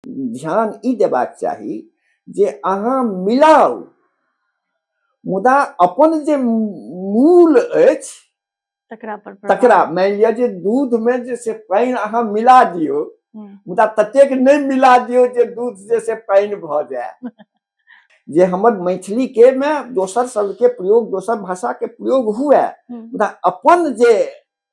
ध्यान ई देबाक चाही जे अहाँ मिलाउ मुदा अपन जे मूल अछि तकरा पर तकरा मानि लिअ जे दूध में जे से पानि अहाँ मिला दियौ हम्म। मुदा ततेक नहि मिला दियौ जे दूध जे से पानि भऽ जाय जे हमर मैथिली के मे दोसर शब्द के प्रयोग दोसर भाषा के प्रयोग हुए हम्म। मुदा अपन जे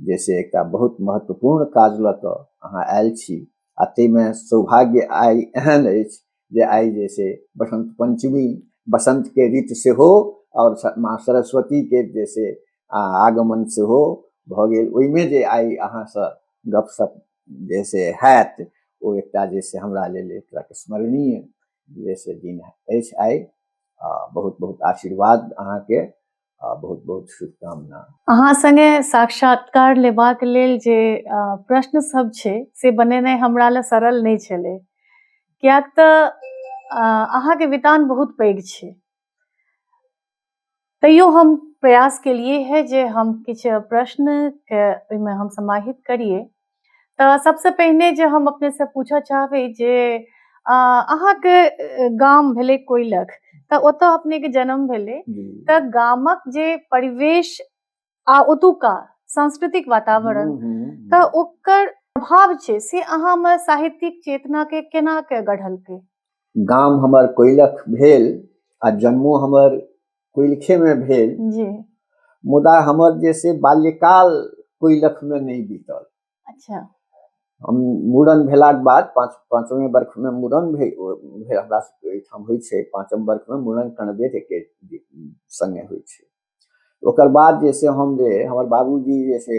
जैसे एकटा बहुत महत्वपूर्ण काज लऽ कऽ अहाँ आयल छी आ ताहिमे सौभाग्य आइ एहन अछि जे आइ जे छै बसंत पंचमी बसंत के ऋतु सेहो आओर माँ सरस्वती के जे छै आगमन सेहो भऽ गेल ओहिमे जे आइ अहाँसँ गपशप जे से हैत ओ एकटा जे से हमरा लेल एक तरहके स्मरणीय जे से दिन अछि आइ आ बहुत बहुत आशीर्वाद अहाँके आ बहुत बहुत शुभकामना अहाँ संगे साक्षात्कार लेबाक लेल जे प्रश्न सब छै से बनेनाइ हमरा लए सरल नहि छलै किएक तऽ अहाँके वितान बहुत पैघ छै तैयो हम प्रयास केलिए है जे हम किछु प्रश्नके ओहिमे हम समाहित करिए तऽ सबसँ पहिने जे हम अपने से पूछऽ चाहबै जे अ, अहाँके अ, गाम भेलै कोइलख तऽ ओतऽ अपने के जन्म भेलै जी। तऽ गामक जे परिवेश आ ओतुका सांस्कृतिक वातावरण हम्म, हम्म, हम्म। तऽ ओकर प्रभाव छै से अहाँमे साहित्यिक चेतना के केना के गढ़लकै गाम हमर कोइलख भेल आ जन्मो हमर कोइलखे में भेल जी मुदा हमर जे से बाल्यकाल कोइलख में नहीं बीतल अच्छा हम मूड़न भेलाक बाद पाँच पाँचवें वर्ष में मूड़न भे भे- हमरा सबके एहिठाम होइ छै पाँचम वर्ष में मूड़न कणबेर एके संगे होइ छै ओकर बाद जे से हम जे हमर बाबूजी जे से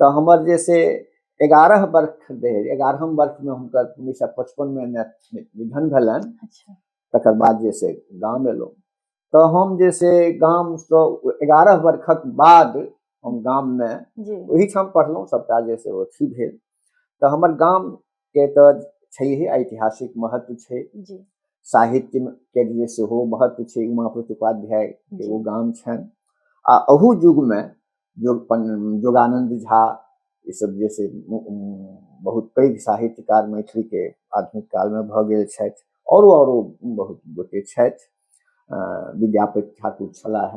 तऽ हमर जे से एगारह वर्ष भेल एगारहम वर्षमे हुनकर उन्नैस सए पचपनमे निधन भेलनि अच्छा तकर बाद जे से गाम एलहुँ तऽ हम जे से गामसँ एगारह वर्षक बाद हम गाममे जी ओहिठाम पढ़लहुँ सभटा जे से अथी भेल तऽ हमर गाम के तऽ छैहे ऐतिहासिक महत्व छै साहित्य के लिए सेहो महत्व छै उमा प्रतिपाध्याय के ओ गाम छनि आ अहू युगमे योगानंद झा ई सब जे से बहुत पैघ साहित्यकार मैथिली के आधुनिक काल में भऽ गेल छथि औरो औरो बहुत गोटे छथि विद्यापति ठाकुर छलाह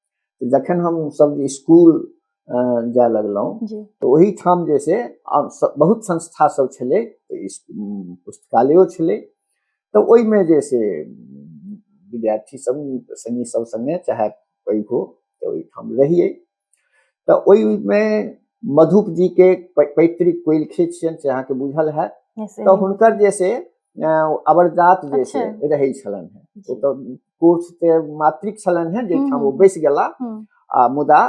तऽ जखन हम सब जे स्कूल अ, जाय लगलहुँ जी तऽ ओहिठाम जे छै आब स- बहुत संस्था सब छलै तऽ इस- उम, पुस्तकालयो छलै तऽ ओहिमे जे छै उम, विद्यार्थी सब संगी सब संगे चाहे पैघ हो तऽ ओहिठाम रहियै तऽ ओहिमे मधुप जी के पै- पैतृक कोइलखे छियनि से अहाँके बुझल हैत Yes, तऽ एनी- हुनकर जे छै अ, अवरजात जे छै अच्छा। रहै छलनि हेँ जी। ओतऽ कोर्स ते मातृक छलन है जे हम्म, ठाम ओ हम्म। बैस गेला हम्म। आ मुदा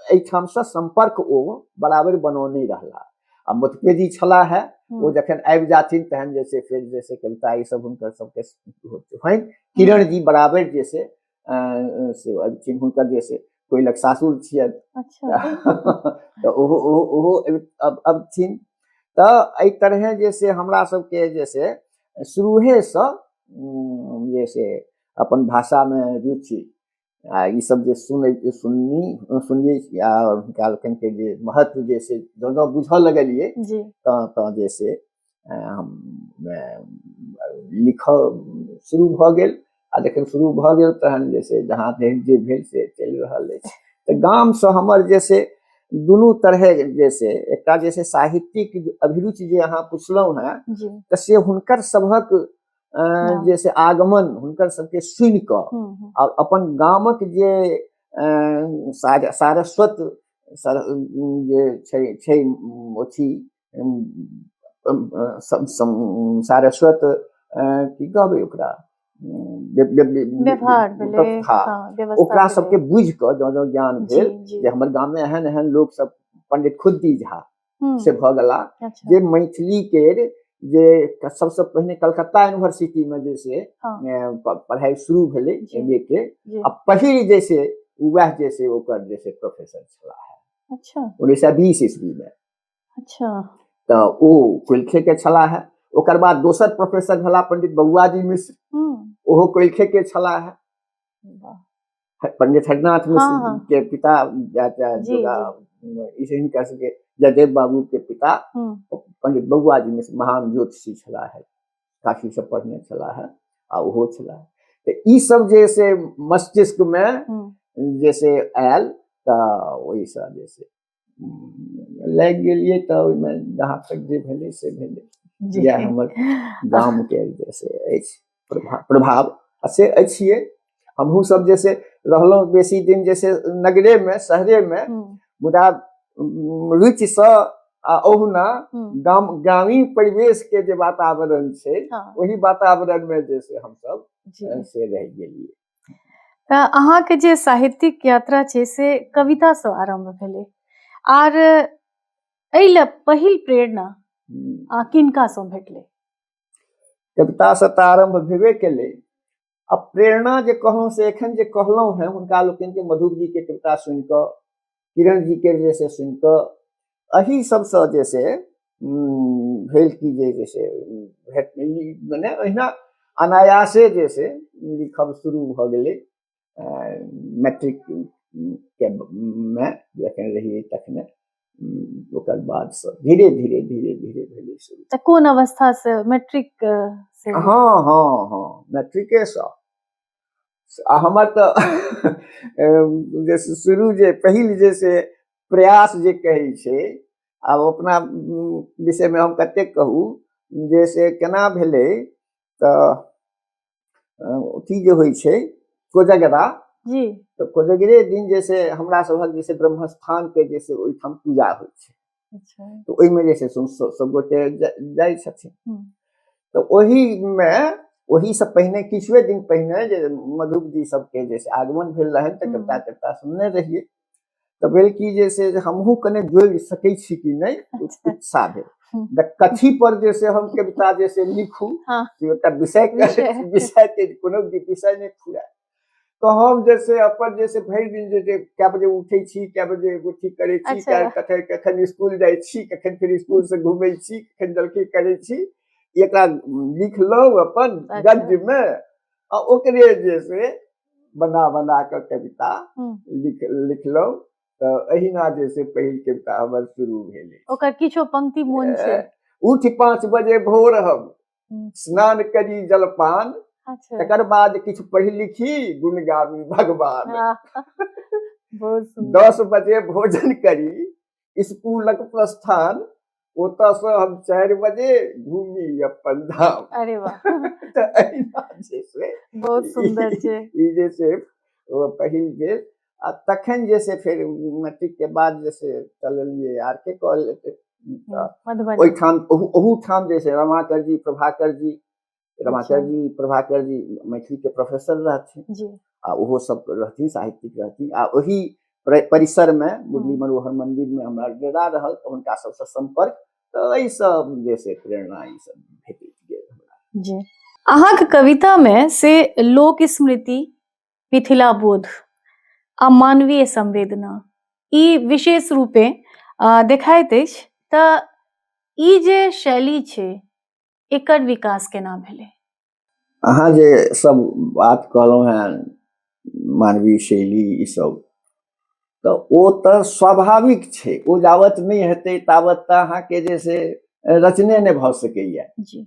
ए ठाम से संपर्क ओ बराबर बनो नहीं रहला आ मतभेदी छला है हम्म। ओ जखन आबि जाथिन तहन जे से फिर जे से कविता ई सब हुनकर सबके होनि किरण जी बराबर जे से अ, अ, से अबथिन हुनकर जे से कोइलक सासुर छियनि अच्छा तऽ ओहो ओहो ओहो अब अब थिन तऽ एहि तरहे जे से हमरा सबके जे से शुरूहेसँ जे से अपन भाषामे रुचि आ ईसभ जे सुनै सुननी सुनियै आ हुनका लोकनिके जे महत्व जे से जँ जँ बुझऽ लगलियै तऽ तऽ जे से हम लिखऽ शुरू भऽ गेल आ जखन शुरू भऽ गेल तहन जे छै जहाँ धरि जे भेल से चलि रहल अछि तऽ गामसँ हमर जे छै दुनू तरहे जे छै एकटा जे छै साहित्यिक अभिरुचि जे अहाँ पुछलहुँ हेँ तऽ से हुनकर सभक हाँ। जे से आगमन हुनकर सबके सुनि कऽ और हम्म, हम्म। अपन गामक जे सारस्वत जे छै छै अथी सारस्वत की कहबै ओकरा व्यवहार भेलै हाँ, ओकरा सबके बुझ कऽ जँ जँ ज्ञान भेल जे हमर गाममे एहन एहन लोक सब पंडित खुद्दी झा हम्म। से भऽ गेला अच्छा। जे मैथिली के जे सबसँ पहिने कलकत्ता यूनिवर्सिटी में जे से हाँ। पढ़ाई शुरू भेलै एम ए के आ पहिल जे से वएह जे से ओकर जे से प्रोफेसर छला है अच्छा उन्नैस सए बीस ईस्वी में अच्छा तऽ ओ कोइलखे के छलाह है ओकर बाद दोसर प्रोफेसर भेला पंडित बबुआ जी मिश्र हम्म, ओहो कोइलखे के छलाह है वाह, ह- पंडित हरिनाथ मिश्र हाँ, हाँ। के पिता या- या- जी, जोगा, इसे ही कह सके जयदेव बाबू के पिता हम्म, पंडित बबुआ जी मिश्र महान ज्योतिषी छला है काफी सब पढ़ने छला है आ ओहो छला है तऽ ई सब जे से मस्तिष्क में हम्म, जैसे आयल तऽ ओहिसँ जे से लागि गेलियै तऽ ओहिमे जहाँ तक जे भेलै से भेलै जी इएह हमर गामके जे से अछि प्रभाव प्रभाव आ से अछिए हमहूँ सब जे से रहलहुँ बेसी दिन जे से नगरेमे शहरेमे हम्म, मुदा उम, रुचिसँ आ ओहुना हम्म, गाम ग्रामीण परिवेशके जे वातावरण छै हाँ, ओहि वातावरणमे जे से हमसब जी से रहि गेलियै अहाँके जे साहित्यिक यात्रा छै से कवितासँ आरम्भ भेलै आर एहि लए पहिल प्रेरणा आ किनकासँ भेटलै कवितासँ तऽ आरम्भ भेबे केलै आ प्रेरणा जे कहलहुँ से एखन जे कहलहुँ हेँ हुनका लोकनिके मधुबजीके कविता सुनि कऽ किरण जी के जे छै सुनि कऽ एहि सबसँ जे छै भेल की जे जे छै भेट मने ओहिना अनायासे जे छै लिखब शुरू भऽ गेलै मैट्रिक के मे जखन रहियै तखने ओकर बाद से धीरे धीरे धीरे धीरे भेलै शुरू तऽ कोन अवस्था से मैट्रिक से हँ हँ हँ मैट्रिके से आ हमर तऽ जे शुरू जे पहिल जे से प्रयास जे कहै छै आब अपना विषयमे हम कतेक कहू जे से केना भेलै तऽ अथी जे होइ छै कोजगरा जी तऽ कोजगरे दिन जे से हमरा सभक जे से ब्रह्मस्थानके जे से ओहिठाम पूजा होइ छै अच्छा। तऽ ओहिमे जे छै से सभगोटे जाइ छथिन तऽ ओहिमे ओहिसँ पहिने किछुए दिन पहिने जे मधुक जी सबके जे आगमन भेल रहनि तऽ कविता कविता सुनने रहियै तऽ भेल की जे से हमहूँ कने जोड़ि सकै छी कि नहि अच्छा। उत्साह भेल कथी पर जे से हम कविता जे से लिखू हाँ। विषय विषय के कोनो विषय नहि खुला तो हम जैसे अपन जैसे भरि दिन जे जे कए बजे उठै छी कए बजे एगो ठीक करै छी अच्छा। कए- कखन कखन स्कूल जाइ छी कखन फिर स्कूल से घूमै छी कखन जलखै करै छी एकरा लिखलहुँ अपन अच्छा। गद्य मे आ ओकरे जे से बना बना कऽ कविता हम्म। लिख लिखलहुँ तऽ एहिना जे से पहिल कविता हमर शुरू भेलै ओकर किछो पंक्ति मोन छै उठ पाँच बजे भोर हम स्नान करी जलपान अच्छा तकर बाद किछु पढ़ि लिखी गुण गाबी भगवान हाँ, बहुत सुंदर दस बजे भोजन करी स्कूलक प्रस्थान ओतऽ से हम चारि बजे घूमी अपन धाम अरे वाह तऽ एहिना जे छै बहुत सुंदर छै ई जे छै ओ पहिल बेर आ तखन जे से फेर मैट्रिक के बाद जे से चललिए आर के कॉलेज हम्म, ओहिठाम ओहूठाम जे से रमाकर जी प्रभाकर जी रमाकर अच्छा। जी प्रभाकर जी मैथिली के प्रोफेसर रहथिन आ ओहो सब रहथिन साहित्यिक रहथिन आ ओही परिसर में हम्म। मुरली मनोहर मंदिर में हमारा डेरा रहल तो उनका सबसे संपर्क तो एहि सब जे से प्रेरणा ई सब भेटैत गेल हमरा जी अहाँके कविता में से लोक स्मृति मिथिला बोध आ मानवीय संवेदना ई विशेष रूपे अ, देखाइत अछि तऽ ई जे शैली छै एकर विकास केना भेलै अहाँ जे सब बात कहलहुँ हैं मानवीय शैली ई सब तऽ ओ तऽ स्वाभाविक छै ओ जावत नहि हेतै तावत तऽ अहाँके जे से रचने नहि भऽ सकैए जी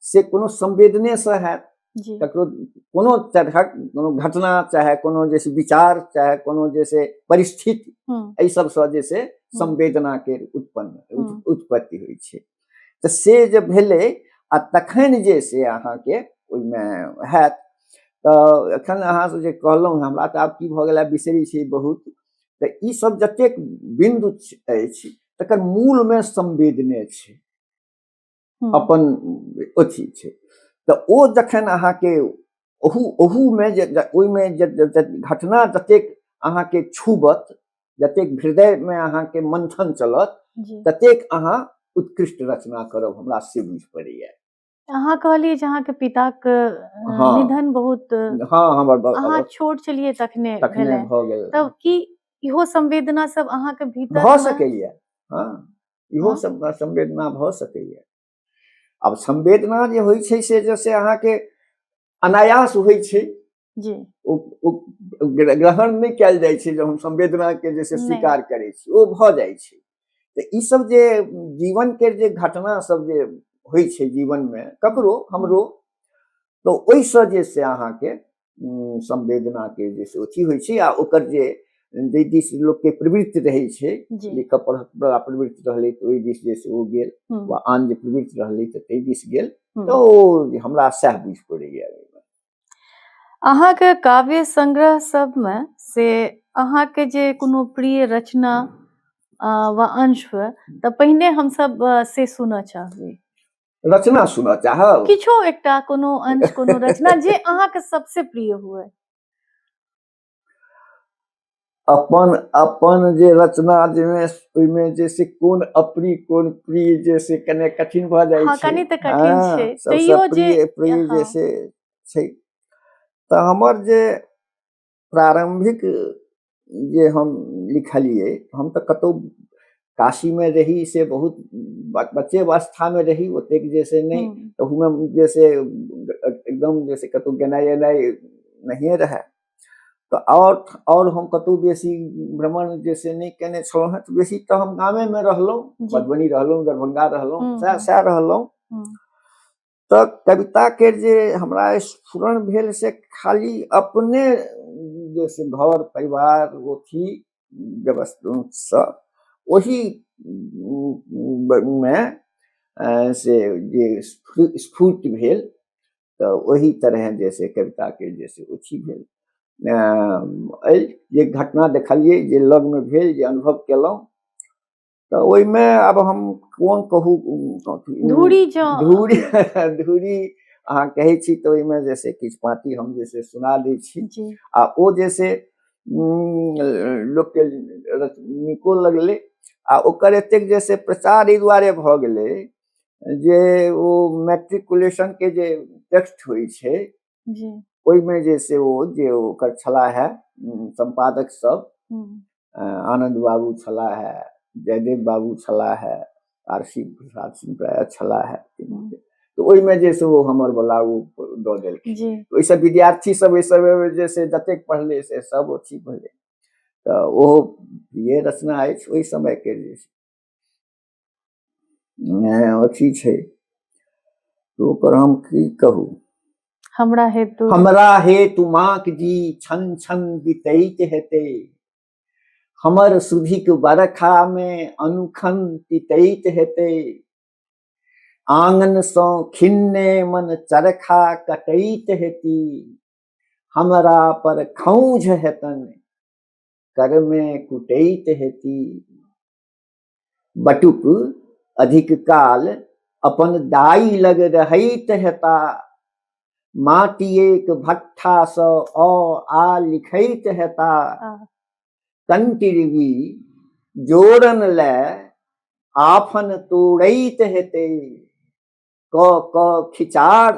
से कोनो संवेदनेसँ हैत ककरो कोनो तरहक कोनो घटना चाहे कोनो जे विचार चाहे कोनो जे से परिस्थिति हम्म। एहि सबसँ जे से हम्म। संवेदनाके उत्पन्न हम्म। उत्पत्ति होइ छै तऽ से जे भेलै आ तखन जे से अहाँके ओहिमे हैत तऽ एखन अहाँसँ जे कहलहुँ हमरा तऽ आब की भऽ गेला बिसरी छै बहुत तऽ ई सब जतेक बिन्दु अछि तकर मूलमे संवेदने छै हम्म, अपन अथी छै तऽ ओ जखन अहाँके ओहू ओहूमे जे जे- ओहिमे जे जे- जे घटना जतेक अहाँके छूबत जतेक हृदयमे अहाँके मंथन चलत जी ततेक अहाँ उत्कृष्ट रचना करब हमरा से बुझ पड़ैए अहाँ कहलिए जे अहाँके पिताक अ, हाँ। निधन बहुत अ, हँ हमर ब- अहाँ अवस्था छोट छलिए तखने तखने भेलै भऽ गेल तब की इहो संवेदना सब अहाँके भीतर भऽ सकैए हँ इहो हाँ। सब ना संवेदना भऽ सकैए आब संवेदना जे होइ छै से जैसे अहाँके अनायास होइ छै जी ओ ओ ग्र- ग्रहण नहि कयल जाइ छै जे हम संवेदना के जैसे नहि। स्वीकार करै छी ओ भऽ जाइ छै तऽ ई सब जे जीवन के जे घटना सब जे होइ छै जीवन मे ककरो हमरो तऽ ओहिसँ जे से अहाँके संवेदनाके जे से अथी होइ छै आ ओकर जे जाहि दिस लोकके प्रवृत्ति रहै छै लिखऽ पढ़क बड़ा प्रवृत्ति रहलै तऽ ओहि दिस जे से ओ गेल वा आन जे प्रवृत्ति रहलै तऽ ताहि दिस गेल तऽ ओ हमरा सएह बुझि पड़ैए अहाँके काव्य संग्रह सबमे से अहाँके जे कोनो प्रिय रचना वा अंश हुए तऽ पहिने हमसब से सुनऽ चाहबै रचना सुनऽ चाहब किछो एकटा कोनो अंश कोनो रचना जे अहाँके सबसे प्रिय हुए अपन अपन जे रचना जाहिमे ओहिमे जे से कोन अप्रिय कोन प्रिय जे से कने कठिन भऽ जाइ हँ, छै कनि तऽ कठिन हँ, छै। सबसँ तैयो जे- प्रिय प्रिय जे हँ। से छै तऽ हमर जे प्रारम्भिक जे हम लिखलियै हम तऽ कतहु काशीमे रही से बहुत बच्चे अवस्थामे रही ओतेक जे से नहि तहूमे हम्म। जे से एकदम जे से कतहु गेनाइ एनाइ नहिए रहए तऽ आओर आओर हम कतहु बेसी भ्रमण जे से नहि केने छलहुँ हेँ तऽ बेसी तऽ हम गामेमे रहलहुँ मधुबनी रहलहुँ दरभंगा रहलहुँ हम्म, सएह हम्म। सएह रहलहुँ तऽ कविताके जे हमरा स्फुरण भेल से खाली अपने जे से घर परिवार अथी व्यवस्थासँ ओही मे से जे स्फूर्त भेल तऽ ओही तरह जे से कविताके जे से अथी भेल एहि जे घटना देखलियै जे लगमे भेल जे अनुभव केलहुँ तऽ ओहिमे आब हम कोन कहू धूरी धूरी धूरी अहाँ कहै छी तऽ ओहिमे जे से किछु पाँति हम जे से सुना दै छी आ ओ जे से लोकके नीको लगलै आ ओकर एतेक जे से प्रचार एहि दुआरे भऽ गेलै जे ओ मैट्रिकुलेशनके जे टेक्स्ट होइ छै ओहिमे जे से ओ जे ओकर छला है सम्पादक सब आनंद बाबू छला है जयदेव बाबू छला है आरसी प्रसाद सिंह प्राय छला है तऽ ओहिमे जे से ओ हमर बला ओ दऽ देलखिन ओहिसँ विद्यार्थी सब ओहि समय जे से जतेक पढ़ले से सब अथी भेलै तऽ ओहो ये रचना अछि ओहि समयके जे अथी छै ओकर हम की कहू हमरा हेतु हमरा हेतु माक जी छन छन बितैत हेते हमर सुधिक बरखा मे अनुखन तितैत हेते आंगन सो खिन्ने मन चरखा कटैत हेती हमरा पर खौझ हेतन कर में कुटैत हेती बटुक अधिक काल अपन दाई लग रहैत हेता माटिएक भट्ठासँ अ आ लिखैत हेता कंटिरवी जोड़न ले आफन तोड़ैत हेते क क खिचार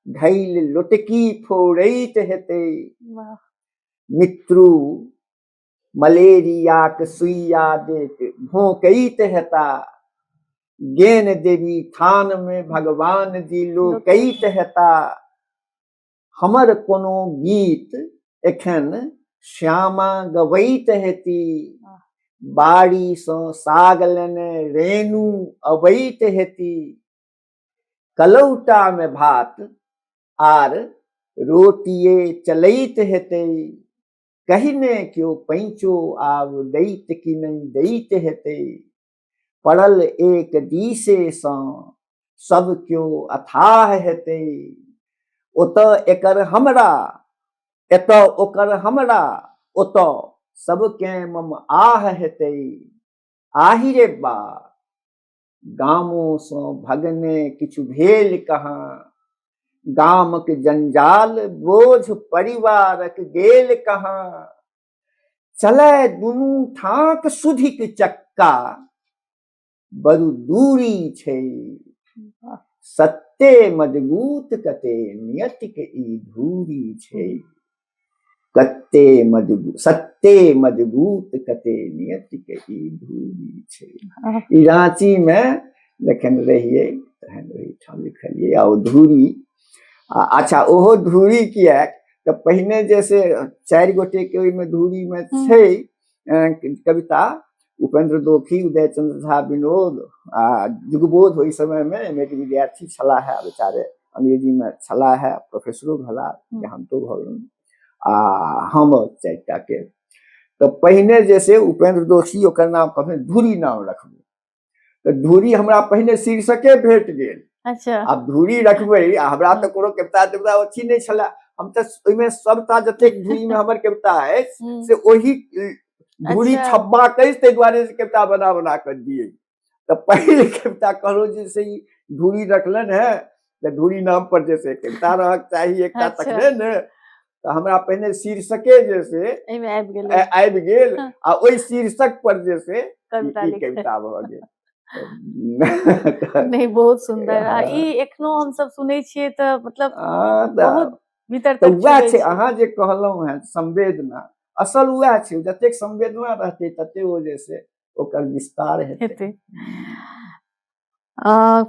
ढैल लोटकी फोड़ैत हेते मित्रु मलेरियाक सुइया देत भोंकैत हेता गेन देवी थान में भगवान जी लोकैत हेता हमर कोनो गीत एखन श्यामा गवैत हेती बाड़ी सँ साग लेने रेणु अबैत हेती कलौटा में भात आर रोटिए चलैत हेतै कहिने केओ पैंचो आब दैत कि नहि दैत हेतै पड़ल एक दिशेसँ सब केओ अथाह हेतै ओतऽ एकर हमरा एतऽ ओकर हमरा ओतऽ सबके मम आह हेतै आहि रे बा गामोसँ भगने किछु भेल कहाँ गामक जंजाल बोझ परिवारक गेल कहाँ चलै दुनू ठाक सुधिक चक्का बरु दूरी छै सत्य मजबूत कते नियतिक ई धूरी छै कते मजबूत सत्ते मजबूत कते नियत के ई भूमि छै ई रांची में जखन रहिए तहन ओहिठाम लिखलिए आ धूरी आ अच्छा ओहो धूरी किया तो पहिने जैसे चार गोटे के ओहिमे धूरी में हम्म। छै कविता उपेन्द्र दोखी उदय चंद्र झा विनोद आ जुगबोध ओहि समय में एम के विद्यार्थी छला है बेचारे अंग्रेजी में छला है प्रोफेसरो भला हम्म। हम तो भल आ हम चारिटा के तो पहिने जैसे उपेन्द्र दोषी ओकर नाम कहने धूरी नाम रखबे तो धूरी हमरा पहिने शीर्षके भेट गेल अच्छा आब धूरी रखबे आ हमरा तो कोनो कविता देवता अथी नहीं छला हम तो ओहिमे सबटा जतेक धूरी में हमर कविता है हम्म। से ओही दूरी अच्छा। छब्बा कहि ताहि दुआरे से कविता बना बना कऽ दिए तऽ पहिले कविता कहलहुँ जे से ई धूरी रखलनि है जे धूरी नाम पर जे से कविता रहक चाही एकटा अच्छा। तखने ने तऽ हमरा पहिने शीर्षके जे से एहिमे आबि गेलै आ- आबि गेल हाँ। आ ओहि शीर्षक पर जे से ई- कविता ई लिखै कविता भऽ गेल तऽ- नहि बहुत सुंदर आ हाँ। ई एखनो हम सब सुनै छियै तऽ मतलब हाँ, तऽ बहुत भीतर तऽ तक उएह छुबै छै छै। अहाँ जे कहलहुँ हेँ संवेदना असल उएह छै जतेक संवेदना रहतै तते ओ जे से ओकर विस्तार हेतै हेतै आ,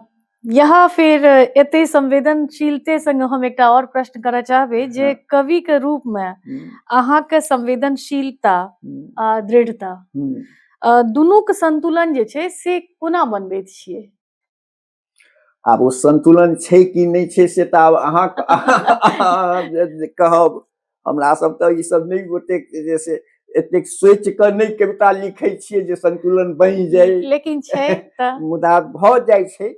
यहाँ फिर एते संवेदनशीलते संग हम एकटा और प्रश्न करय चाहबे जे हाँ। कवि के रूप में हम्म, अहाँ के संवेदनशीलता हम्म, आ दृढ़ता हम्म। अ, दुनूक संतुलन जे छै से कोना बनबैत छियै आब ओ संतुलन छै कि नहि छै से तऽ आब अहाँ कहब हमरा सब तऽ ई सब नहि ओतेक जे से एतेक सोच कऽ नहि कविता लिखै छियै जे संतुलन बनि जाय लेकिन छै मुदा भऽ जाइ छै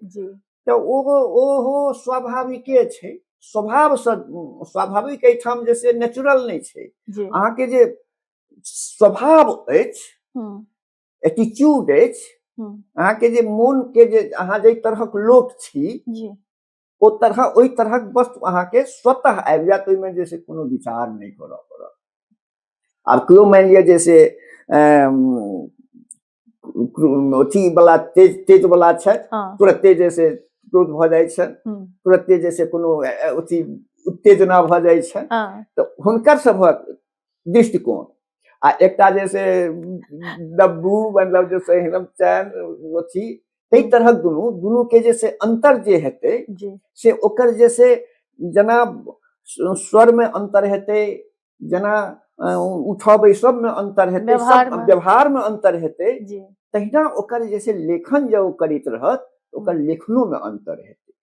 तऽ ओ ओहो स्वाभाविके छै स्वभाव स्वाभाविक एहिठाम जे से नेचुरल नहि छै अहाँके जे स्वभाव अछि एटीट्यूड अछि अहाँ के जे मोन के जे अहाँ जे तरहक लोक छी ओ तरह ओहि तरहक वस्तु अहाँ के स्वतः आबि जायत ओहिमे जे से कोनो विचार नहि करऽ पड़त आब केओ मानि लिअ जे से अथी वाला तेज तेज वाला छथि हाँ। तुरते जे से क्रोध भऽ जाइ छनि हम्म। तुरते जे से कोनो अथी उत्तेजना भऽ जाइ छनि हाँ। तऽ हुनकर सभक दृष्टिकोण आ एकटा जे से डब्बू मतलब जे से हिरम चैन अथी ताहि तरहक दुनू दुनू के जे से अंतर जे हेतै जी से ओकर जे से जेना स- स्वर में अंतर हेतै जेना अ, उठऽ बैसब में अंतर हेतै व्यवहार सब में। व्यवहार में अंतर हेतै जी तहिना ओकर जे से लेखन जे ओ करैत रहत ओकर लेखनो में अंतर हेतै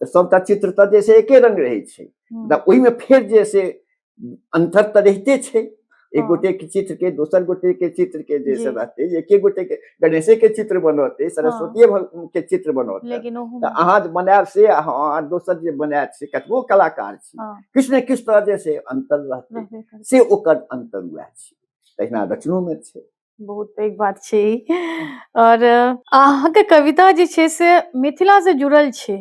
तऽ सभटा चित्र तऽ जे छै एके रंग रहै छै तऽ ओहिमे फेर जे से अन्तर तऽ रहिते छै एक गोटे के चित्र के दोसर गोटे के चित्र के जे सब रहते एके गोटे के गणेशे के चित्र बनौते सरस्वती के चित्र बनौते तऽ अहाँ जे बनायब से अहाँ दोसर जे बनायत से कतबो कलाकार छी किछु ने किछु तरह जे से अन्तर रहते से ओकर अन्तर उएह छै तहिना रचनोमे छै बहुत पैघ बात छै ई आओर अहाँके कविता जे छै से मिथिलासँ जुड़ल छै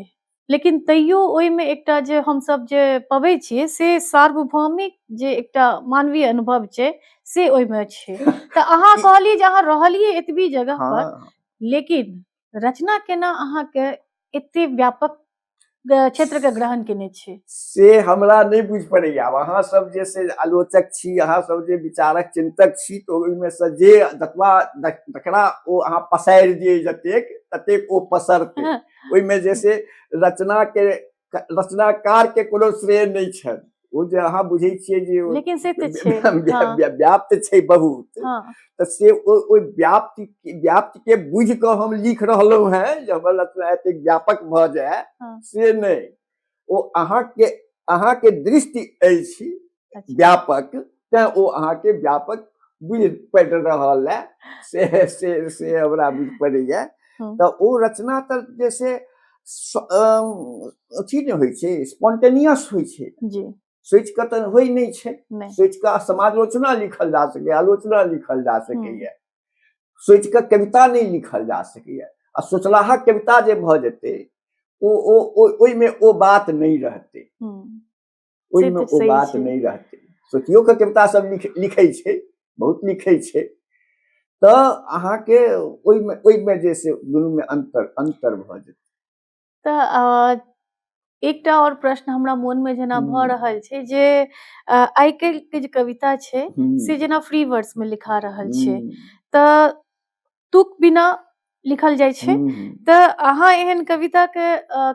लेकिन तैयो ओहिमे एकटा जे हमसभ जे पबै छियै से सार्वभौमिक जे एकटा मानवीय अनुभव छै से ओहिमे छै तऽ अहाँ कहलियै जे अहाँ रहलियै एतबी जगह पर हाँ लेकिन रचना केना अहाँके एते व्यापक क्षेत्र के ग्रहण केने छी से हमरा नहीं बुझ पड़े आब अहाँ सब जे से आलोचक छी अहाँ सब जे विचारक चिंतक छी तो ओहिमे से जे जतबा जकरा ओ अहाँ पसारि दिए जतेक ततेक ओ पसरते हाँ। ओहिमे जे से रचना के रचनाकार के कोनो श्रेय नहि छनि ओ जे अहाँ बुझै छियै जे लेकिन से तऽ छै हाँ। व्याप्त छै बहुत हाँ। तऽ से ओहि व्याप्त व्याप्त के बुझ कऽ हम लिख रहलहुँ हैं जे हमर रचना एतेक व्यापक भऽ जाय हाँ। से नहि ओ अहाँ के अहाँ के दृष्टि अछि अच्छा। व्यापक तैं ओ अहाँके व्यापक बुझि पड़ि रहल है से से से हमरा बुझि पड़ैए हम्म। तऽ ओ रचना तऽ जे से अथी ने होइ छै स्पॉन्टेनियस होइ छै जी सोचि कऽ तऽ होइ नहि छै सोचि कऽ समालोचना लिखल जा सकैए आलोचना लिखल जा हम्म। सकैए सोचि कऽ कविता नहि लिखल जा सकैए आ सोचलाहा कविता जे भऽ जेतै ओ ओ ओहिमे ओ बात नहि रहतै हम्म। ओहिमे ओ बात नहि रहतै सोचियो के कविता सब लिखै छै बहुत लिखै छै तऽ अहाँके ओहिमे ओहिमे जे से दुनूमे अन्तर अन्तर भऽ जेतै तऽ एकटा और प्रश्न हमरा मन में जेना भऽ रहल छै जे आइ काल्हि के जे कविता छै से जेना फ्री वर्ड्स में लिखा रहल छै तऽ तुक बिना लिखल जाइ छै तऽ अहाँ एहन कविता के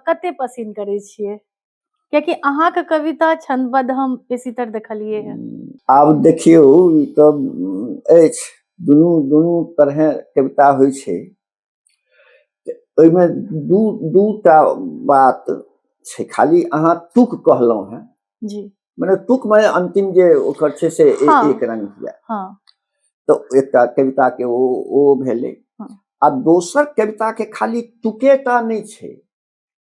कते पसिन करै छियै कियाकि अहाँके कविता छंदबद्ध हम बेसी तर देखलिए है आब देखियो ई तऽ उम, अछि दुनू दुनू तरहे कविता होइ छै तऽ ओहिमे दू दू टा बात छै खाली अहाँ तुक कहलहुँ हेँ जी मने तुक मने अंतिम जे ओकर छै से ए- हाँ। एक रंग हुआ हाँ तऽ एकटा कविता के ओ ओ भेलै हाँ। आ दोसर कविता के खाली तुके टा नहि छै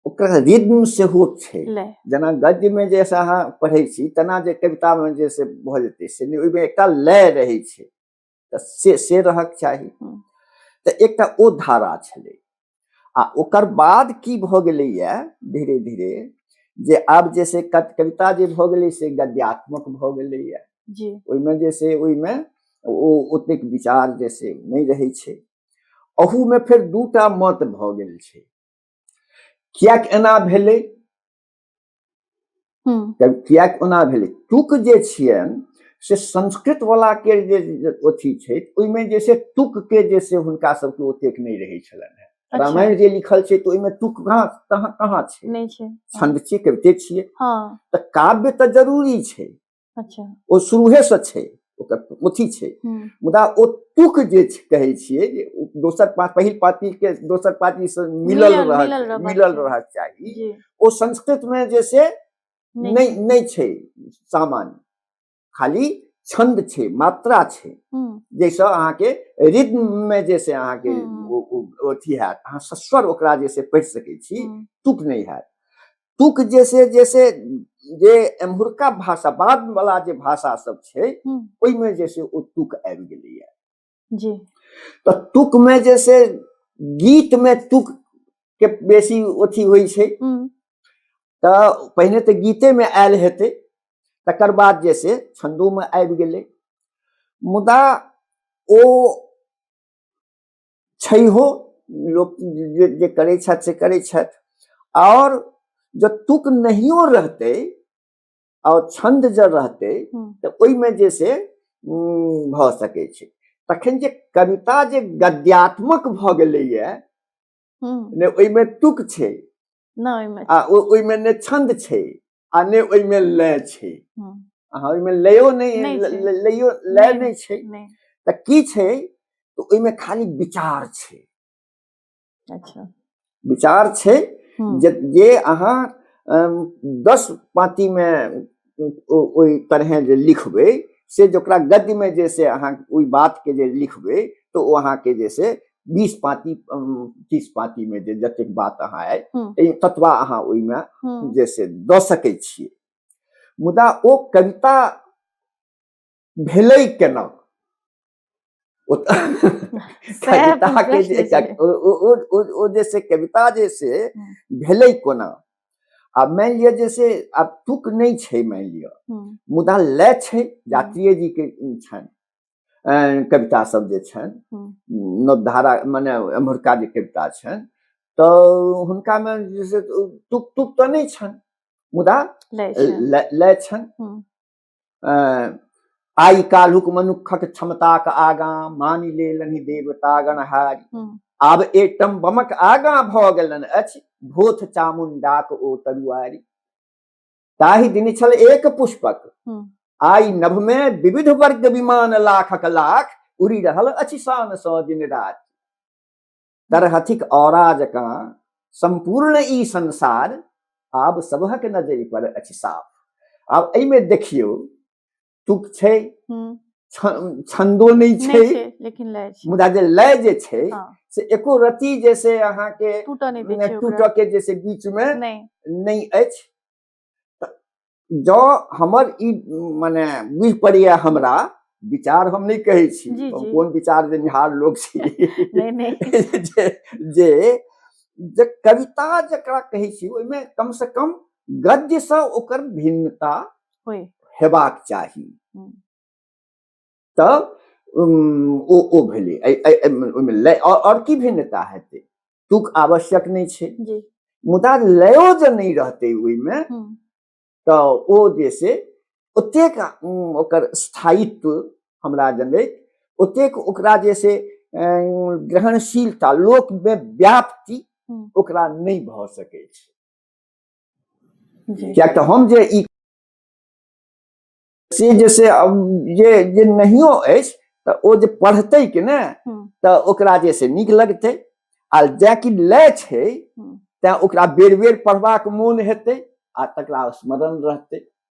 ओकर रिद्म सेहो छै लय जेना गद्यमे जे से अहाँ पढ़ै छी तेना जे कवितामे जे से भऽ जेतै से नहि ओहिमे एकटा लय रहै छै तऽ से से रहक चाही हम्म। तऽ एकटा ओ धारा छलै आ ओकर बाद की भऽ गेलैए धीरे धीरे जे आब जे से कत- कविता जे भऽ गेलै से गद्यात्मक भऽ गेलैए जी ओहिमे जे से ओहिमे ओ ओतेक विचार जे से नहि रहै छै अहूमे फेर दूटा मत भऽ गेल छै किएक एना भेलै किएक ओना भेलै तुक जे छियनि से संस्कृत वाला के जे अथी छै ओहिमे जे छै तुक के जे से हुनका सबके ओतेक नहि रहै छलनि हेँ अच्छा। रामायण जे लिखल छै तऽ ओहिमे तुक कहाँ कहाँ कहाँ छै छंद छियै कविते छियै हँ। तऽ काव्य तऽ जरूरी छै अच्छा ओ शुरूहे से छै ओकर अथी छै हम्म, मुदा ओ तुक जे छै- कहै छियै जे ओ दोसर पा- पहिल पाती के दोसर पाती से मिलल मिलल- मिलल रहक रहबाक मिलल चाही। रहक चाही जी ओ संस्कृत में जे से नहीं। नहि नहि छै सामान्य खाली छंद छै मात्रा छै हम्म, जैसे अहाँके रिद्म मे जे से अहाँके हम्म। ओ- ओ- अथी हैत अहाँ सस्वर ओकरा जे से पढ़ि सकै छी हम्म, तुक नहि हैत तुक जे से जे से जे एम्हुरका भाषा बाद वाला जे भाषा सब छै ओहिमे जे से ओ तुक आबि गेलैया जी तऽ तुक में जे से गीत में तुक के बेसी अथी होइ छै तऽ पहिने तऽ गीते में आयल हेतै तकर बाद जे से छंदो में आबि गेलै मुदा ओ छैहो लोक जे जे करै छथि से करै छथि आओर जँ तुक नहियो रहतै आओर छन्द जँ रहतै हम्म। तऽ ओहिमे जे से उम, भऽ सकै छै तखन जे कविता जे गद्यात्मक भऽ गेलैए हम्म, ने ओहिमे तुक छै ना ओहिमे आ ओ- ओहिमे ने छन्द छै आ ने ओहिमे लय छै हम्म, अहाँ ओहिमे लयो नहि नहि ल- छै। ल- लयो लय नहि। नहि छै नहि तऽ की छै तऽ ओहिमे खाली विचार छै अच्छा विचार छै हम्म, जे जे अहाँ अम, दस पाँतीमे ओ- ओहि तरहे जे लिखबै से जकरा गद्यमे जे से अहाँ ओहि बातके जे लिखबै तऽ ओ अहाँके जे से बीस पाती तीस पाती में जे जतेक बात अहाँ आय हम्म। ततबा अहाँ ओहिमे हम्म। जे से दऽ सकै छियै मुदा ओ कविता भेलै केना कविता के जे ओ जे से कविता जे से हम्म। भेलै कोना आ मानि लिअ जे से आब तुक नहि छै मानि लिअ मुदा लय छै जात्रीय जी के छनि अं, कविता सब जे छनि हम्म। नवधारा मने एम्हरका जे कविता छनि तऽ हुनकामे जे छै से तुक तुक तऽ नहि छनि मुदा लै छै लय लय छनि हम्म। अं, आइ काल्हुक मनुक्खक क्षमताक आगाँ मानि लेलनि देवता गणहारी हम्म। आब एटम बमक आगाँ भऽ गेलनि अछि भोथ चामुंडाक ओ तरुआरी ताहि दिन छल एक पुष्पक हम्म। आई नभ में विविध वर्ग विमान लाखक लाख उड़ी रहल अछि शान सौ दिन रात तरहथिक औराज का संपूर्ण ई संसार आब सबहक नजर पर अछि साफ आब एहिमे देखियो तुक छै छंदो नहीं छै लेकिन लय छै मुदा जे लय जे छै हाँ। से एको रति जे से अहाँ के टूट नै दे छै टूट के जे से बीच में नै नै अछि जो हमर ई माने बुझ पड़िया हमरा विचार हम नहीं कहे छी जी, जी। कोन विचार जे निहार लोग छी नै नै जे जे जे कविता जकरा कहै छी ओहिमे कम से कम गद्य से ओकर भिन्नता हेबाक चाही तऽ ओ ओ भेलै ओहिमे लय आओर की भिन्नता हेतै तुक आवश्यक नहि छै मुदा लयो जे नहि रहतै ओहिमे तऽ ओ जे छै ओतेक ओकर स्थायित्व हमरा जनैत ओतेक ओकरा जे छै ग्रहणशीलता लोकमे व्याप्ति ओकरा नहि भऽ सकै छै किया तऽ हम जे ई से जे से जे जे नहियो अछि तऽ ओ जे पढ़तै कि ने तऽ ओकरा जे से नीक लगतै आ जे कि लै छै तैँ ओकरा बेर बेर पढ़बाक मोन हेतै आ तकरा स्मरण रहतै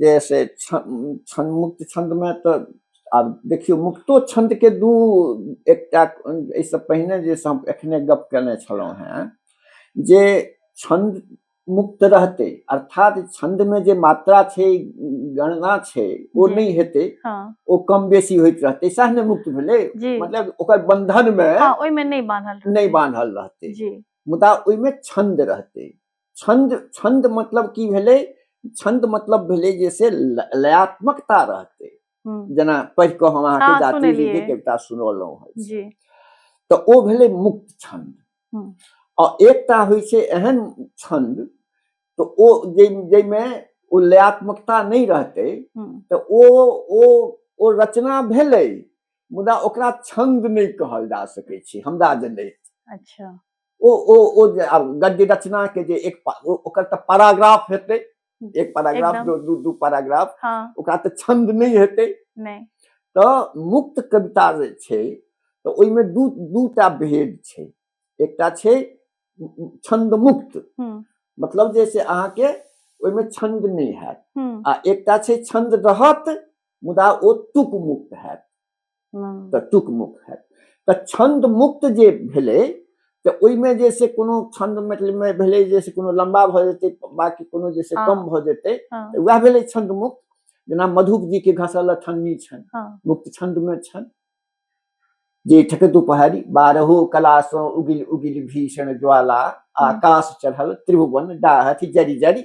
जे से छन्द मुक्त छन्दमे तऽ आब देखियौ मुक्तो छन्दके दू एकटा एहिसँ पहिने जे हम एखने गप केने छलहुँ हेँ जे छन्द मुक्त रहतै अर्थात छन्दमे जे मात्रा छै गणना छै ओ नहि हेतै हँ। ओ कम बेसी होइत रहतै सएह ने मुक्त भेलै जी मतलब ओकर बंधनमे हँ, ओहिमे नहि बान्हल रहतै। नहि बान्हल रहतै जी मुदा ओहिमे छन्द रहतै छंद छंद मतलब की भेले छंद मतलब भेले जैसे लयात्मकता रहते हम्म। जना पढ़ के हम अहाँ के हाँ, जाति जी के कविता सुनौलौ है जी तो ओ भेले मुक्त छंद हम्म। और एकता होइ से एहन छंद तो ओ जे जे में ओ लयात्मकता नहीं रहते हम्म। तो ओ ओ ओ रचना भेले मुदा ओकरा छंद नहीं कहल जा सके छी हमरा जने अच्छा ओ ओ ओ जे आब गद्य रचना के जे एक पा- ओ- ओकर तऽ पैराग्राफ हेतै एक पैराग्राफ एकदम। दो दू दू पैराग्राफ हाँ ओकरा तऽ छंद नहि हेतै नहीं तऽ मुक्त कविता जे छै तऽ ओहिमे दू दू टा भेद छै एकटा छै छंद मुक्त हम्म मतलब जे से अहाँके ओहिमे छंद नहि हैत हम्म आ एकटा छै छंद रहत मुदा ओ तुक मुक्त हैत तऽ टुक मुक्त है तऽ छंद मुक्त जे भेले तऽ ओहिमे जे से कोनो छंद मतलब में भेले जे से कोनो लंबा भऽ जेतै बाकी कोनो जे से कम भऽ जेतै तऽ वएह भेलै छंद मुक्त जेना मधुप जी के घसल ठन्नी छन मुक्त छंद में छन जे ठक दुपहरी बारहो कला सो उगिल उगिल भीषण ज्वाला आकाश चढ़ल त्रिभुवन डाहथि जरी जरी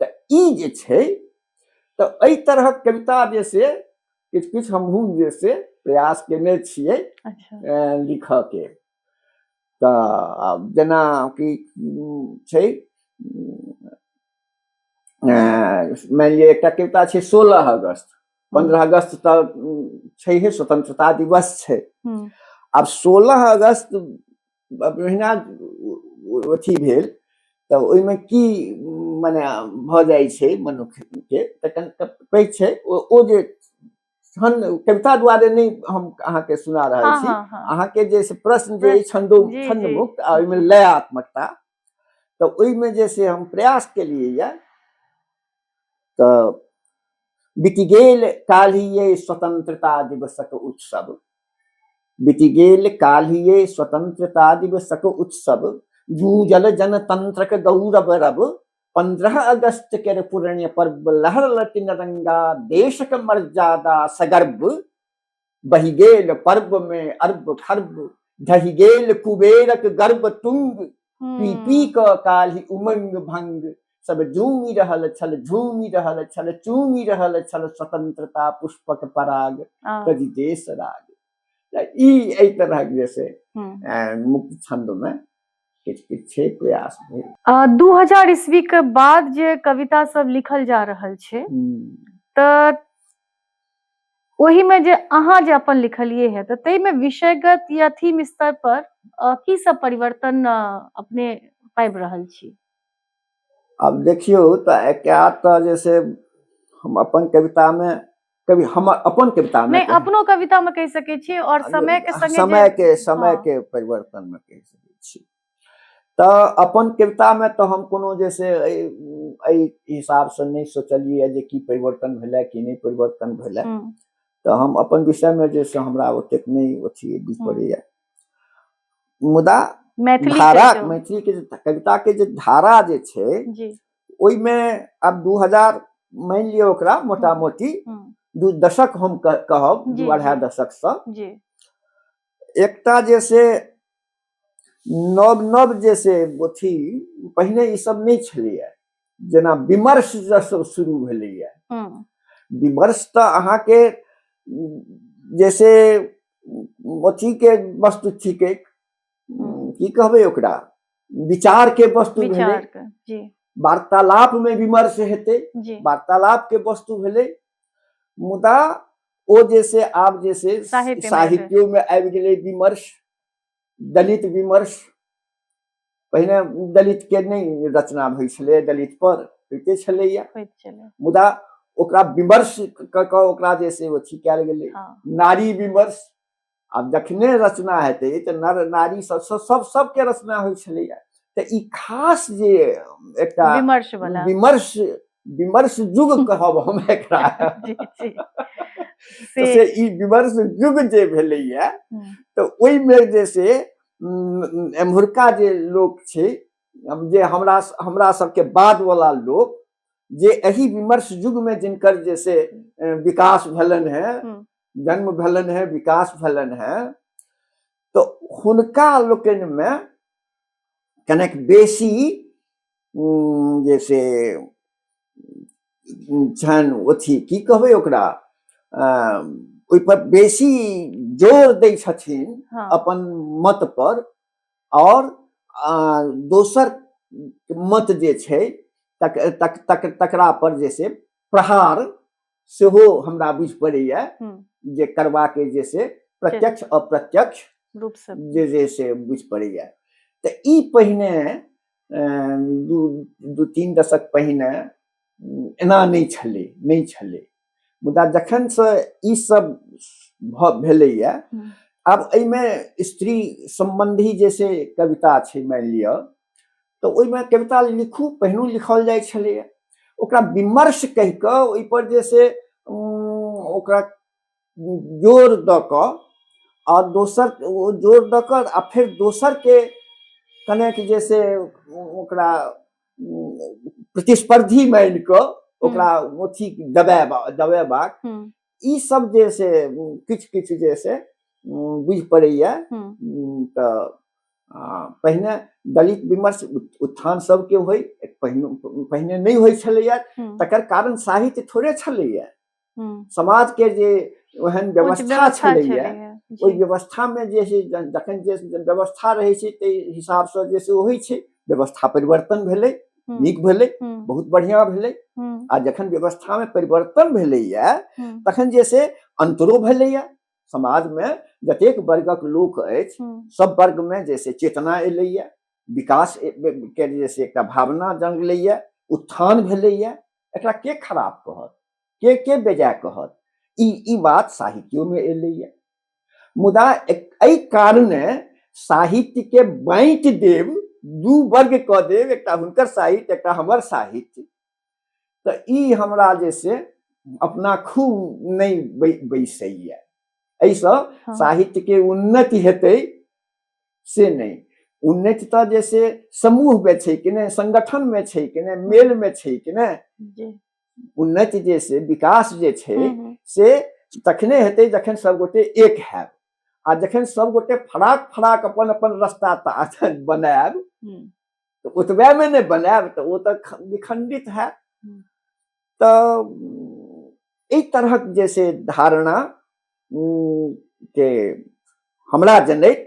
तऽ ई जे छै तऽ एहि तरहक कविता जे से किछु किछु हमहूँ जे से प्रयास केने छियै अच्छा लिखऽके तऽ आब जेना कि उम, छै उम, अं, मानि लिअ एकटा कविता छै सोलह अगस्त पंद्रह अगस्त तऽ उम, छैहे स्वतंत्रता दिवस छै हम्म, आब सोलह अगस्त ओहिना अथी भेल तऽ ओहिमे की मने भऽ जाइ छै मनुष्यके तऽ कनिटा पैघ छै ओ जे छंद कविता दुआरे नहि हम अहाँके सुना रहल हाँ, छी हाँ, हाँ। अहाँके जे प्रश्न जे छंदो छंद मुक्त आ ओहिमे लयात्मकता तऽ ओहिमे जे से हम प्रयास केलियै यए तऽ बीति गेल काल्हिए स्वतंत्रता दिवसक उत्सव बीति गेल काल्हिए स्वतंत्रता दिवसक उत्सव जूझल जनतंत्रक गौरव रव पंद्रह अगस्त के पुरण्य पर्व लहर लटिन रंगा देशक मर्यादा सगर्भ बहि गेल पर्व मे अर्ब खर्ब ढहि गेल कुबेरक गर्भ तुंग पी पी हम्म, क काल्हि उमंग भंग सब झूमि रहल छल झूमि रहल छल चूमि रहल छल स्वतंत्रता पुष्पक पराग आ, कवि देश राग तऽ ई एहि तरहक जे छै हम्म। अ, मुक्त छंद मे किछु किछु छै प्रयास भेल आ, 2000 ईस्वी के बाद जे कविता सब लिखल जा रहल छै हम्म। तऽ ओही में जे अहाँ जे अपन लिखलिए है तऽ तै में विषयगत या थीम स्तर पर अ, की सब परिवर्तन अ, अपने पाबि रहल छी आब देखियौ तऽ एकरा तऽ जे से हम अपन कविता में कभी हमर अपन कविता में नहीं अपनो कविता में कह सके छी और समय के संगे समय जे- के समय हाँ। के परिवर्तन में कह सकै छी तऽ अपन कवितामे तऽ हम कोनो जे से एहि हिसाबसँ नहि सोचलियै जे की परिवर्तन भेलै कि नहि परिवर्तन भेलै हम्म, तऽ हम अपन विषयमे जे से हमरा ओतेक नहि अथी बुझि हम्म। पड़ैए मुदा मैथिली धारा कहियौ। मैथिलीके जे कविताके जे धारा जे छै जी ओहिमे आब दू हजार मानि लिअ ओकरा मोटा मोटी हम्म, दू दशक हम कह- कहब जी, दू अढ़ाई जी। दशकसँ जी एकटा जे से नव नव जे से अथी पहिने ई सब नहि छलैया जेना विमर्श जसब शुरू भेलैया हम्म, विमर्श तऽ अहाँके जैसे अथी के वस्तु थिक हम्म। की कहबै ओकरा विचार के वस्तु भेलै विचार के जी वार्तालाप में विमर्श हेतै जी वार्तालाप के वस्तु भेलै मुदा ओ जे से आब जे से साहित्य में साहित्यो में आबि गेलै विमर्श दलित विमर्श पहिने दलित के नहि रचना होइ छलै दलित पर होइते छलैया मुदा ओकरा विमर्श कऽ कऽ ओकरा जे से अथी कयल गेलै हाँ। नारी विमर्श आब जखने रचना हेतै तऽ नर नारी सब सब सब सबके रचना होइ छलैया तऽ ई खास जे एकटा विमर्श विमर्श विमर्श युग कहब हम एकरा से ई विमर्श युग जे भेलैया हम्म। तऽ ओहिमे जे से एम्हुरका जे लोक छै जे हमरा हमरा सबके बाद वाला लोक जे एहि विमर्श युग में जिनकर जे से विकास भेलन है हम्म। जन्म भेलन है विकास भेलन है तो हुनका लोकनि में कनेक बेसी जे से छनि अथी की कहबै ओकरा ओहिपर बेसी जोर दै छथिन हाँ। अपन मत पर और दोसर मत जे छै तक तक तक तकरा पर जे से प्रहार सेहो हमरा बुझि पड़ैए जे करबाके जे से प्रत्यक्ष अप्रत्यक्ष रूपसँ जे जे से बुझि पड़ैए तऽ ई पहिने दू दू तीन दशक पहिने एना नहि छलै नहि छलै मुदा जखनसँ ई सब भऽ भेलैए आब एहिमे स्त्री सम्बन्धी जे से कविता छै मानि लिअ तऽ ओहिमे कविता लिखू पहिनू लिखल जाइ छलैए ओकरा विमर्श कहि कऽ ओहिपर जे से ओकरा जोर दऽ कऽ आ दोसर जोर दऽ कऽ आ फेर दोसरके कनेक जे से ओकरा प्रतिस्पर्धी मानि कऽ ओकरा अथी दबेबा दबेबाक ई सब जे से किछु किछु जे से बुझि पड़ैया तऽ पहिने दलित विमर्श उत्थान सबके होइ पहिने पहिने नहि होइ छलैया तकर कारण साहित्य थोड़े छलैया समाज के जे ओहन व्यवस्था छलैया ओहि व्यवस्था मे जे जखन जे व्यवस्था रहै छै ताहि हिसाब से जे से होइ छै व्यवस्था परिवर्तन भेलै हम्म, नीक भेलै हम्म, बहुत बढ़िया भेलै हम्म, आ जखन व्यवस्था में परिवर्तन भेलैया हम्म, तखन जे से अंतरो भेलैया समाज में जतेक वर्गक लोक अछि हम्म, सब वर्ग में जे से चेतना एलैया विकास ए- ए- के जे से एकटा भावना जंगलैया उत्थान भेलैया एकरा के खराब कहत के के बेजाय कहत ई ई बात साहित्यो में एलैया मुदा एहि कारणे साहित्य के बाँटि देव दू वर्ग कऽ देव एकटा हुनकर साहित्य एकटा हमर साहित्य तऽ ई हमरा जे से अपना खूब नहि बैसैए एहिसँ हाँ। साहित्य के उन्नति हेतै से नहि उन्नति तऽ जे से समूह में छै कि नहि संगठन में छै कि नहि मेल में छै कि नहि उन्नति जे से विकास जे छै हम्म, हम्म। से तखने हेतै जखन सभगोटे एक हैब आ जखन सभगोटे फराक फराक अपन अपन रस्ता ता- बनायब हम्म, तऽ ओतबे मे नहि बनायब तऽ ओ तऽ ख- विखंडित हैत हम्म। तऽ उम, एहि तरहक जे से धारणा उम, के हमरा जनैत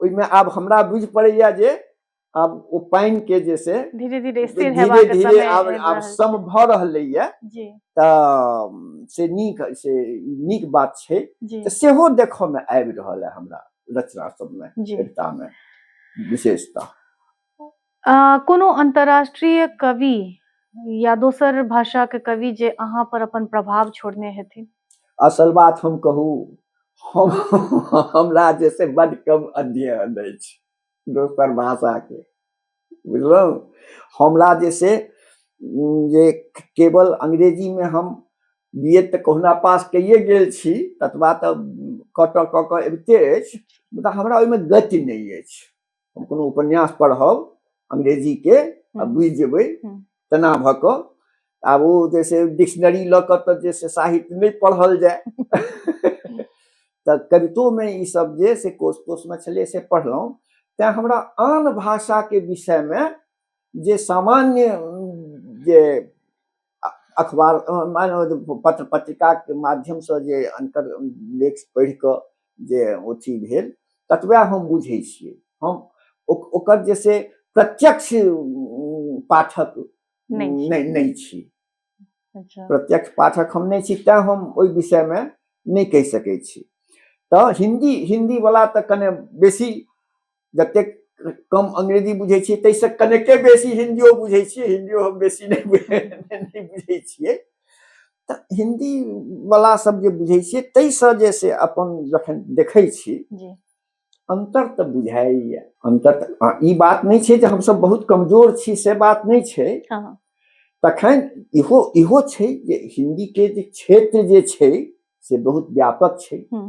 ओहिमे आब हमरा बुझि पड़ैया जे आब ओ पानि के जे से धीरे धीरे स्थिर धीरे हेबाक धीरे समय आब आबि आब रहल सम भऽ रहलै यऽ छै। जी तऽ से नीक से नीक बात छै जी तऽ सेहो देखऽ मे आबि रहल है हमरा रचना सबमे जी कविता मे विशेषता कोनो अन्तर्राष्ट्रीय कवि या दोसर भाषाके कवि जे अहाँ पर अपन प्रभाव छोड़ने हेथिन असल बात हम कहू हम हमरा जे से बड कम अध्ययन अछि दोसर भाषाके बुझलहुँ हमरा जे से जे केवल अंग्रेजीमे हम बी एड तऽ कहुना पास कैए गेल छी ततबा तऽ कटऽ कऽ कऽ अबिते अछि मुदा हमरा ओहिमे गति नहि अछि हम कोनो उपन्यास पढ़ब अंग्रेजीके आ बुझि जेबै तेना भऽ कऽ आब ओ जे छै डिक्शनरी लऽ कऽ तऽ जे छै साहित्य नहि पढ़ल जाय तऽ कवितोमे ई सब जे से कोष तोषमे छलै से पढ़लहुँ तैँ हमरा आन भाषाके विषयमे जे सामान्य जे अखबार मानि पत्र पत्रिकाके माध्यमसँ जे अन्तर लेख पढ़ि कऽ जे अथी भेल ततबे हम बुझै छियै हम ओकर जे से प्रत्यक्ष पाठक नहि छी अच्छा। प्रत्यक्ष पाठक हम नहि छी तैँ हम ओहि विषयमे नहि कहि सकै छी तऽ हिन्दी हिन्दीवला तऽ कने बेसी जतेक कम अंग्रेजी बुझै छियै ताहिसँ कनेके बेसी हिन्दियो बुझै छियै हिन्दियो हम बेसी नहि बुझै नहि बुझै छियै तऽ हिन्दीवला सब जे बुझै छियै ताहिसँ जे से अपन जखन देखै छी जी अन्तर तऽ बुझाइए अन्तर तऽ हँ, ई बात नहि छै जे हमसब बहुत कमजोर छी से बात नहि छै हँ हँ तखन इहो इहो छै जे हिन्दीके जे क्षेत्र जे छै से बहुत व्यापक छै हम्म।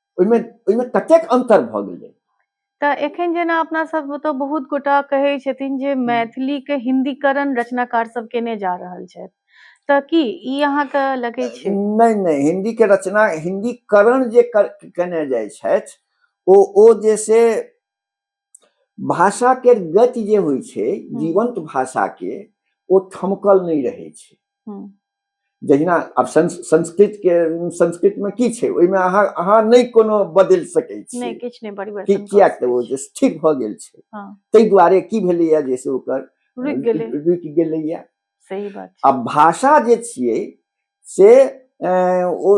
ओहिमे ओहिमे कतेक अन्तर भऽ गेलै तऽ एखन जेना अपना सब ओतऽ बहुत गोटा कहै छथिन जे मैथिली के हिन्दीकरण रचनाकार सब केने जा रहल छथि तऽ की ई अहाँके लगै छै नहि नहि हिन्दी के रचना हिन्दीकरण जे कर, केने जाइ छथि ओ ओ जे से भाषा के गति जे होइ छै हम्म। जीवंत भाषा के ओ थमकल नहि रहै छै हम्म। जहिना आब संस्कृत के संस्कृत में की छै ओहिमे अहाँ अहाँ नहि कोनो बदलि सकै छी नहि किछु नहि परिवर्तन किएक तऽ ओ जे ठीक भऽ गेल छै हाँ। ताहि दुआरे की भेलैए जे से ओकर रुकि गेलै रुकि गेलैए सही बात आ भाषा जे छियै से ओ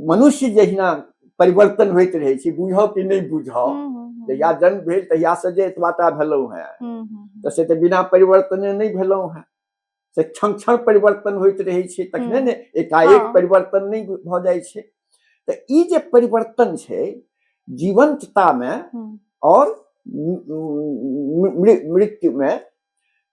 मनुष्य जहिना परिवर्तन होइत रहै छै बुझाउ कि नहि बुझाउ हम्म, हम्म, हम्म। जहिया जन्म भेल तहिया से जे एतबाटा भेलहुँ हैं तऽ से तऽ बिना परिवर्तने नहि भेलहुँ हैं से क्षण क्षण परिवर्तन होइत रहै छै तखने ने एकाएक हाँ। परिवर्तन नहि भऽ जाइ छै तऽ ई जे परिवर्तन छै जीवंततामे आओर मृत्युमे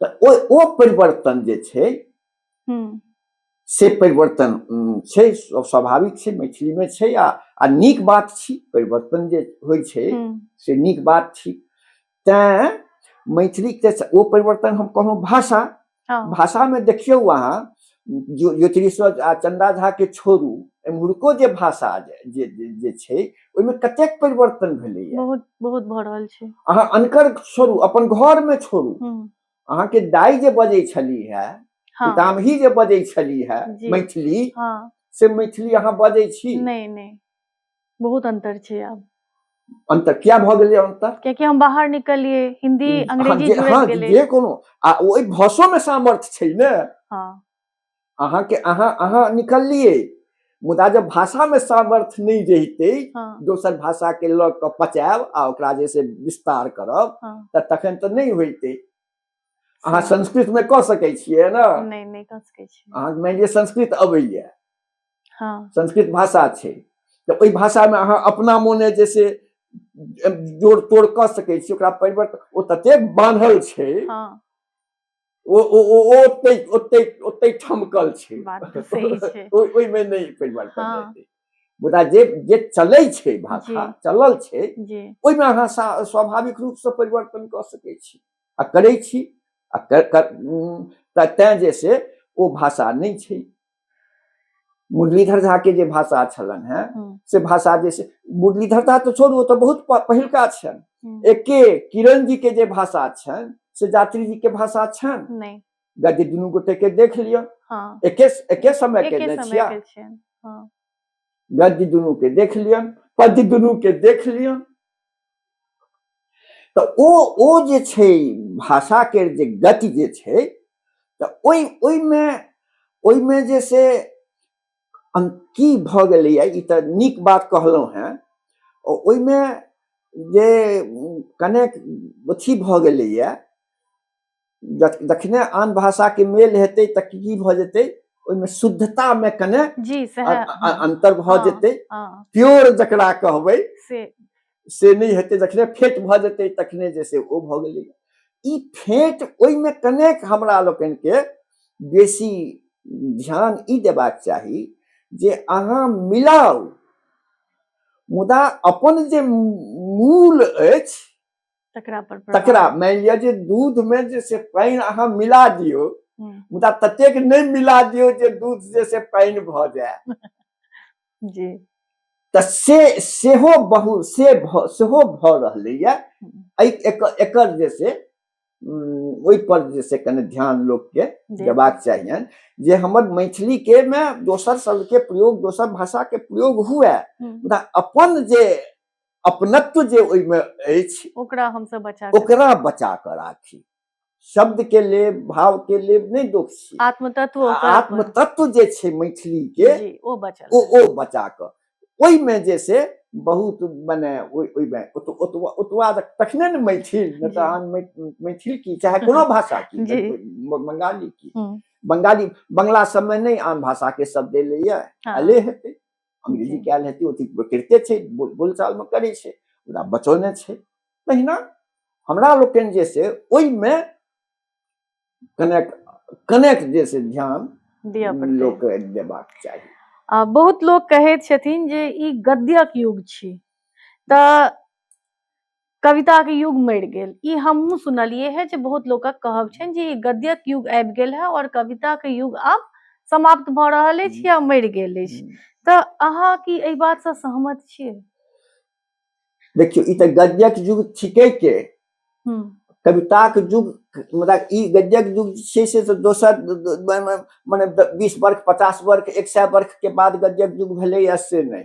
तऽ ओ ओ परिवर्तन जे छै हम्म, से परिवर्तन उम, छै स्व- स्वाभाविक छै मैथिलीमे छै आ आ नीक बात छी परिवर्तन जे होइ छै हम्म, से नीक बात छी तैँ मैथिलीके से- ओ परिवर्तन हम कहलहुँ भाषा हाँ, भाषामे देखियौ अहाँ ज्योतिषर आ चंदा झा के छोड़ू एम्हुरको जे भाषा जे जे छै ओहिमे कतेक परिवर्तन भेलैए बहुत बहुत भऽ रहल छै अहाँ अनकर छोड़ू अपन घर में छोड़ू हम्म। अहाँ के दाई जे बजे छली है हाँ। पितामही जे बजे छली है मैथिली हाँ। से मैथिली अहाँ बजे छी नहीं नहीं बहुत अंतर छै आब अंतर क्या भऽ गेलै अंतर कियाकि हम बाहर निकलिए हिंदी अंग्रेजी जुड़ि हाँ, गेलै जे कोनो आ ओहि भाषो में सामर्थ्य छै ने हां अहाँ के अहाँ अहाँ निकलिए मुदा जब भाषा में सामर्थ्य नहीं रहिते हाँ। दोसर भाषा के लग के पचायब आ ओकरा जैसे विस्तार करब हाँ। त तखन त नहीं होइते अहाँ संस्कृत में कह सके छियै ना नहीं नहीं कह सके छी अहाँ मानि लिअ संस्कृत अबैया हाँ संस्कृत भाषा छै तऽ ओहि भाषा में अहाँ अपना मोने जे से जोड़ तोड़ कऽ सकै छी ओकरा परिवर्तन ओ ततेक बान्हल छै हाँ ओ ओ ओ ओ ओतै ओतै ओतै ठमकल छै बात तो सही छै ओहि- ओहिमे नहि परिवर्तन हाँ। हेतै मुदा जे जे चलै छै भाषा जी। चलल छै जी ओहिमे अहाँ सा- स्वाभाविक रूपसँ परिवर्तन कऽ सकै छी आ करै छी आ कर, कर, तऽ तैँ जे से ओ भाषा नहि छै मुरलीधर झा के जे भाषा छलन हैं हम्म। से भाषा जे से मुरलीधर झा तो छोड़ू तो बहुत पहिलका छन हम्म। एके किरण जी के जे भाषा छन से जात्री जी के भाषा छन नहीं गद्य दुनू गोटे के देख लियो हाँ। एके एके समय के ने छिया हाँ। गद्य दुनू के देख लियो पद्य दुनू के देख लियो तऽ ओ ओ जे छै भाषाके जे गति जे छै तऽ ओहि ओहिमे ओहिमे जे से की भऽ गेलैए ई तऽ नीक बात कहलहुँ हेँ ओहिमे जे कनेक अथी भऽ गेलैए जखने आन भाषा के मेल हेतै तऽ की भऽ जेतै ओहिमे शुद्धता में कने अंतर भऽ हाँ, जेतै हाँ। प्योर जकरा कहबै से नहीं हेतै जखने फेट भऽ जेतै तखने जे से ओ भऽ गेलै ई फेट ओहिमे कनेक हमरा लोकनि के बेसी ध्यान ई देबाक चाही जे अहाँ मिलाउ मुदा अपन जे मूल अछि तकरा पर प्रभाव- तकरा मानि लिअ जे दूध मे जे से पानि अहाँ मिला दियौ हम्म, मुदा ततेक नहि मिला दियौ जे दूध जे से पानि भऽ जाय जी तऽ से सेहो बहु से भ- सेहो भऽ रहलैए एहि एकर एकर जे से उम, ओहिपर जे से कने ध्यान लोकके जी देबाक चाहियनि जे हमर मैथिली के मे दोसर शब्द के प्रयोग दोसर भाषा के प्रयोग हुए हम्म, मुदा अपन जे अपनत्व जे ओहिमे अछि ओकरा हमसब बचा ओकरा बचा कऽ राखी शब्द के लेब भाव के लेब नहि दोष छी आत्मतत्व आत्मतत्व जे छै मैथिली के ओ बचा ओ ओ बचा कऽ ओहिमे जे से बहुत मने ओहिमे ओतबा तखने ने मैथिल नहि तऽ अहाँ मैथिल की चाहे कोनो भाषा की बंगाली की बंगाली बंगला सबमे नहि आन भाषाके शब्द एलैए एले हेतै अंग्रेजी क्या लेती होती करते थे बोल चाल में करे छे पूरा बचौने छे तहिना हमरा लोकन जे से ओई में कनेक्ट कनेक्ट जे से ध्यान दिया पड़ते लोक देबाक चाहिए आ, बहुत लोग कहे छथिन जे ई गद्यक युग छी त कविता के युग मरि गेल ई हमहूँ सुनलिए है जे बहुत लोक कहब छनि जे गद्यक युग आबि गेल है और कविता के युग आब समाप्त भऽ रहल अछि या मरि गेल अछि तऽ अहाँ की एहि बात से सहमत छियै देखियौ ई तऽ गद्यक युग थिके के कविताक युग मतलब ई गद्यक युग छै से तऽ दोसर मने बीस वर्ष पचास वर्ष एक सए वर्ष के बाद गद्यक युग भेलैए से नहि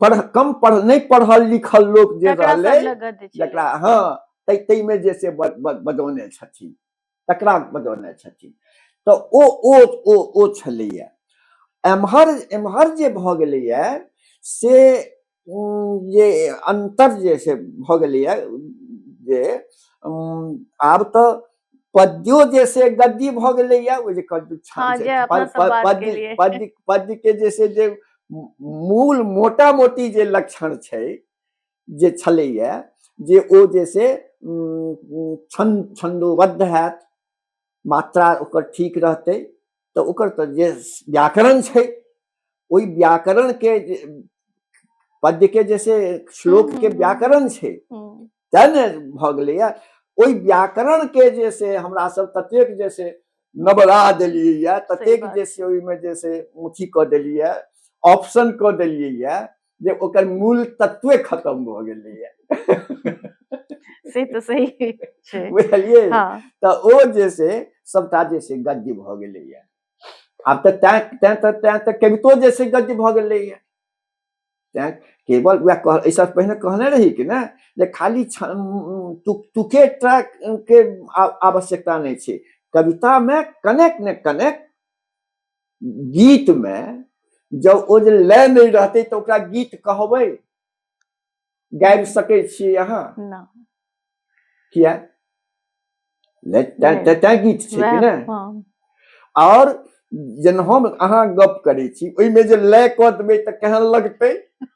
पढ़ कम पढ़ नहीं पढ़ल लिखल लोक जे तकरा सब रहलै लग गद्य छलै। जकरा हँ तै ताहिमे जे से ब- ब- बजौने छथिन तकरा बजौने छथिन तऽ ओ ओ ओ ओ छलैए एम्हर एम्हर जे भऽ गेलैए से उम, जे अन्तर जे से भऽ गेलैए जे उम, आब तऽ पद्यो जे से गद्दी भऽ गेलैया ओ जे कद्दू छान हाँ, छै, जे अपना पद- सब पद- बात के पद्य लिए। पद्य पद्य के जे से जे मूल मोटा मोटी जे लक्षण छै जे छलैया जे ओ जे से उम, उम, छंद छंदोबद्ध हैत मात्रा ओकर ठीक रहतै तऽ ओकर तऽ जे व्याकरण छै ओहि व्याकरण के पद्य के जैसे श्लोक के व्याकरण छै तै ने भऽ गेलैया ओहि व्याकरण के जे से हमरा सब ततेक जे से नबरा देलियै यऽ ततेक जे से ओहिमे जे से अथी कऽ देलियै ऑप्शन कऽ देलियै यऽ जे ओकर मूल तत्वे खत्म भऽ गेलैए से तऽ सही छै बुझलियै हँ तऽ ओ जे से सभटा जे से गद्य भऽ गेलैए आब तऽ तैं तैं तऽ तैं तऽ कवितो जे से गद्य भऽ गेलैए तैं केवल उएह कह एहिसँ पहिने कहने रही कि ने जे खाली छ- उम, तुक तुके टा के आ- आवश्यकता नहि छै कवितामे कनेक ने कनेक गीत में जब ओ जे लय नहीं रहते तो ओकरा गीत कहबे गाबि सके छी अहाँ किया तैं गीत छै कि ने हाँ। और जन हम अहाँ गप करे छी ओहि में जे लय कऽ देबै तऽ केहन लगतै